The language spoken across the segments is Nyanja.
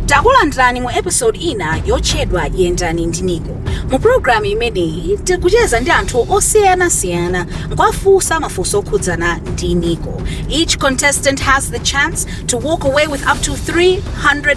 takulandirani mu episode ina yotchedwa yendani ndi nico mu pulogalamu imeneyi tikucheza ndi anthu osiyanasiyana nkuwafunsa mafunso okhudzana ndi nico each contestant has the chance to walk away with up to 300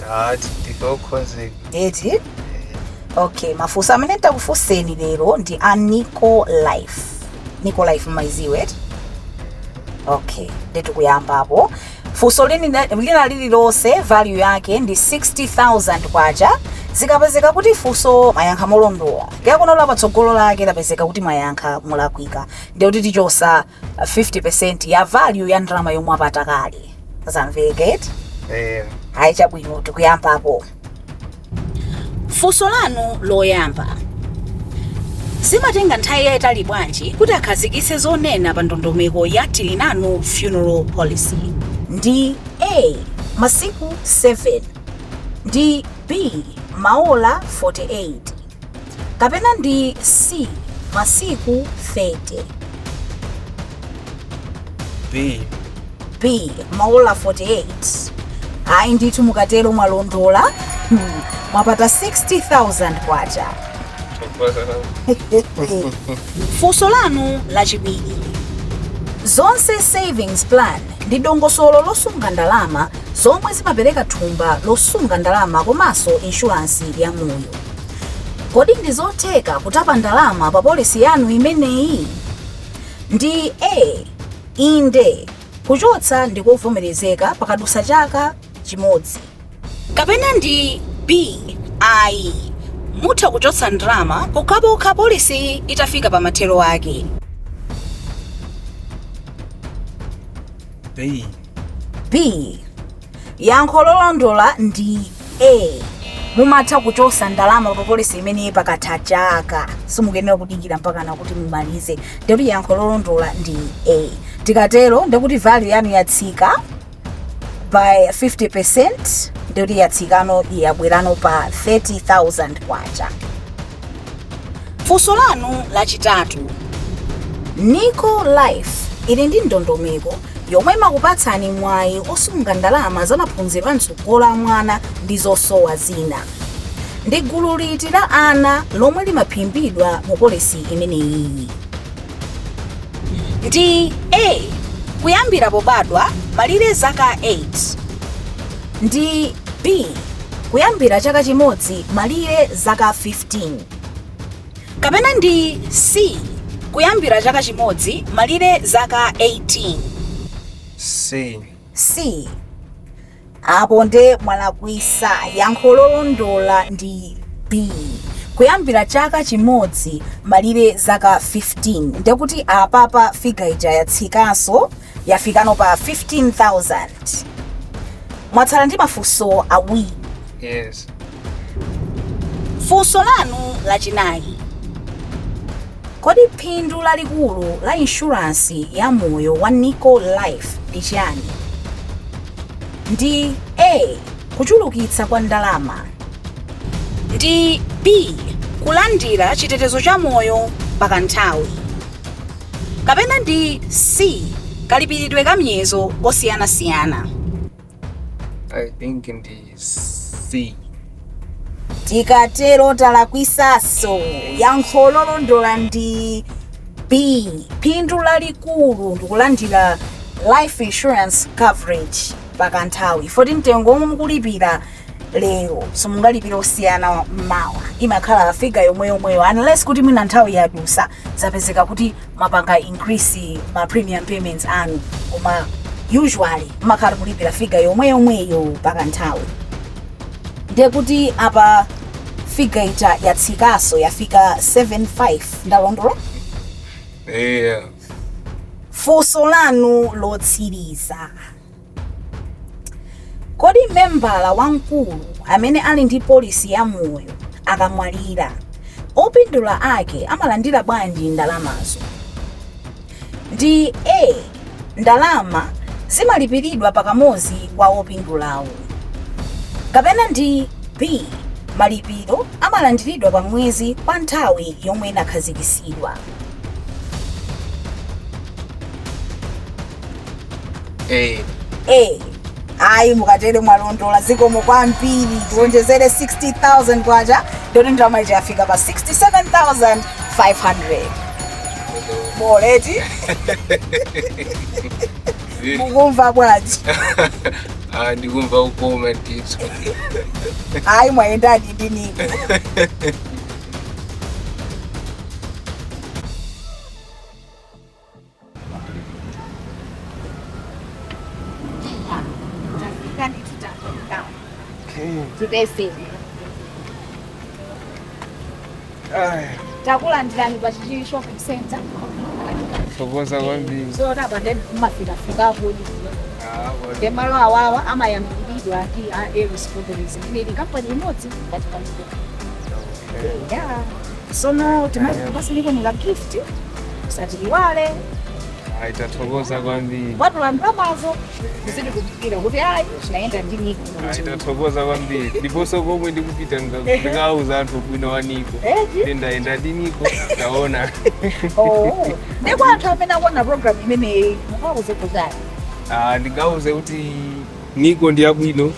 tati takonzeka eti okay mafunso amene nditakufunseni lero ndi a nico life nico life mmayidziwa eti okay nde tikuyambapo funso lina lililonse value yake ndi 60000 kwacha likapezeka kuti funso mwayankha molondola ndiye kenako la patsogolo lake lapezeka kuti mwayankha molakwika ndikuti tichotsa 50% ya value ya ndalama yomwe mwapata kale zamveka eti eh ayi chabwino tikuyambapo funso lanu loyamba zimatenga nthawi yayitali bwanji kuti akhazikitse zonena pa ndondomeko ya tilinanu funeral policy ndi a masiku 7 ndi b maola 48 kapena ndi C masiku 30 B. B maola 48 ayi ndithu mukatero mwalondola Hmm, mwapata 60000 kwacha funso lanu lachiwiri zonse savings plan ndi dongosolo losunga ndalama zomwe zimapereka thumba losunga ndalama komanso inshuransi ya moyo Kodi ndi zotheka kutapa ndalama pa policy yanu imeneyi? Ndi A. Inde, kuchotsa ndi kovomerezeka pakadutsa chaka chimodzi. Kapena ndi B. Ayi, mutha kuchotsa ndalama pokhapokha policyyi itafika pa mathero ake. B. B. yankho lolondola ndi a mumatha kuchotsa ndalama pa polisi imeneyi pakatha chaka simukuyenera kudikira mpakana kuti mumalize ndikuti yankho lolondola ndi a tikatero ndikuti value yanu yatsika by 50 percent ndikuti yatsikano yabwerano pa 30000 kwacha funso lanu lachitatu nico life ili ndi ndondomeko yomwe imakupatsani mwayi osunga ndalama za maphunziro a mtsogolo a mwana ndi zosowa zina. Ndi gulu liti la ana lomwe limaphimbidwa mu polisi imeneyi? Ndi A. Kuyambira pobadwa, malire zaka 8. Ndi B. Kuyambira chaka chimodzi, malire zaka 15. kapena ndi C kuyambira chaka chimodzi malire zaka 18? C. C. Apo nde mwalakwisa, yankho lolondola ndi B kuyambira chaka chimodzi malire zaka 15, ndekuti apapa figure ija yatsikaso yafikano pa 15,000. Mwatsala ndi mafunso awiri. Yes. Funso lanu lachinayi, Kodi phindu lalikulu la inshuransi ya moyo wa Nico Life ndi chiyani? Ndi A. Kuchulukitsa kwa ndalama. Ndi B. Kulandira chitetezo cha moyo pakanthawi. Kapena ndi C. Kalipiridwe ka miyezo kosiyanasiyana. I think ndi C. tikatero talakwisaso yankho lolondola ndi b phindu lalikulu ndikulandira life insurance coverage pakanthawi foti mtengo omwe mukulipira lero simungalipire osiyana mawa imakhala figa yomweyomweyo unless kuti mwina nthawi yadusa zapezeka kuti mwapanga increase ma premium payments anu koma usually mmakhala kulipira figa yomweyomweyo pakanthawi ndiye kuti apa figa ija yatsikaso yafika 75 ndalondola eya funso lanu lotsiriza Kodi membala wamkulu amene ali ndi polisi ya moyo akamwalira, opindula ake amalandira bwanji ndalamazo? Ndi A, ndalama zimalipiridwa pakamodzi kwa opindulawo. Kapena ndi B, malipiro amalandiridwa pa mwezi kwa nthawi yomwe inakhazikitsidwa. A, A, ayi mukatero mwalondola zikomo kwambiri tiwonjezere 60000 kwacha ndoti ndalama ija yafika pa 67500 boleti eh, mukumva bwanji ah, ndikumva ukoma ndithu. ayi mwayendadi ndi Nico takulandirani pa chichiri shopping center Thokoza kwambiri. zona pande mmafikafika kodi nde malo awawa amayang'aniridwa ndi a Eris Properties ndi kampani imodzi ngati kampani ya Sono timazi niko ni la gift usatiiwale Ai, tathokoza kwambiri. anthu wambamazo zidi kufikira kuti ayi naenda ndi niko Ai, tathokoza kwambiri. Ndiponso komwe ndikupita ndika- ndikauza anthu ubwino wa Niko. Eti? Ndi ndayenda ndi Niko, ndaona. Oh, ndi kwa anthu amene akuona program imeneyi mungawauze zotani Ah, ndingawauze kuti Niko ndi abwino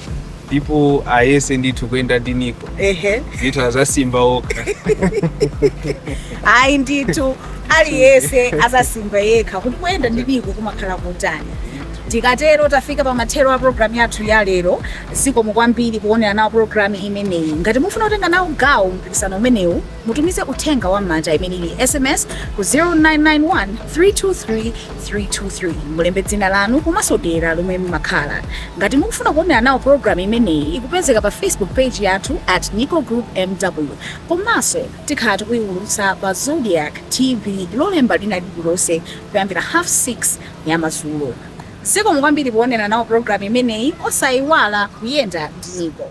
ndipo ayese ndithu kuyenda ndi Niko. Ehe. Ndithu azasimba okha. Ayi ndithu aliyese azasimba yekha kuti kuyenda ndi Niko kumakhala kotani. Tikatero tafika pa mathero a programu yathu ya lero. Zikomo kwambiri kuonera nawo programu imeneyi. Ngati mufuna kutenga nawo gawo mpikisano umenewu Mutumize uthenga wa m'manja, imene ili sms, ku 0991 323 323. Mulembe dzina lanu komanso dera lomwe mumakhala. Ngati mukufuna kuonera nawo pulogalamu imeneyi, ikupezeka pa Facebook page yathu at Nico Group MW komanso tikhala tikuiwulutsa pa Zodiak TV lolemba lina lililonse kuyambira half 6 ya madzulo. Zikomo kwambiri poonera nawo pulogalamu imeneyi. Osaiwala kuyenda ndi Niko.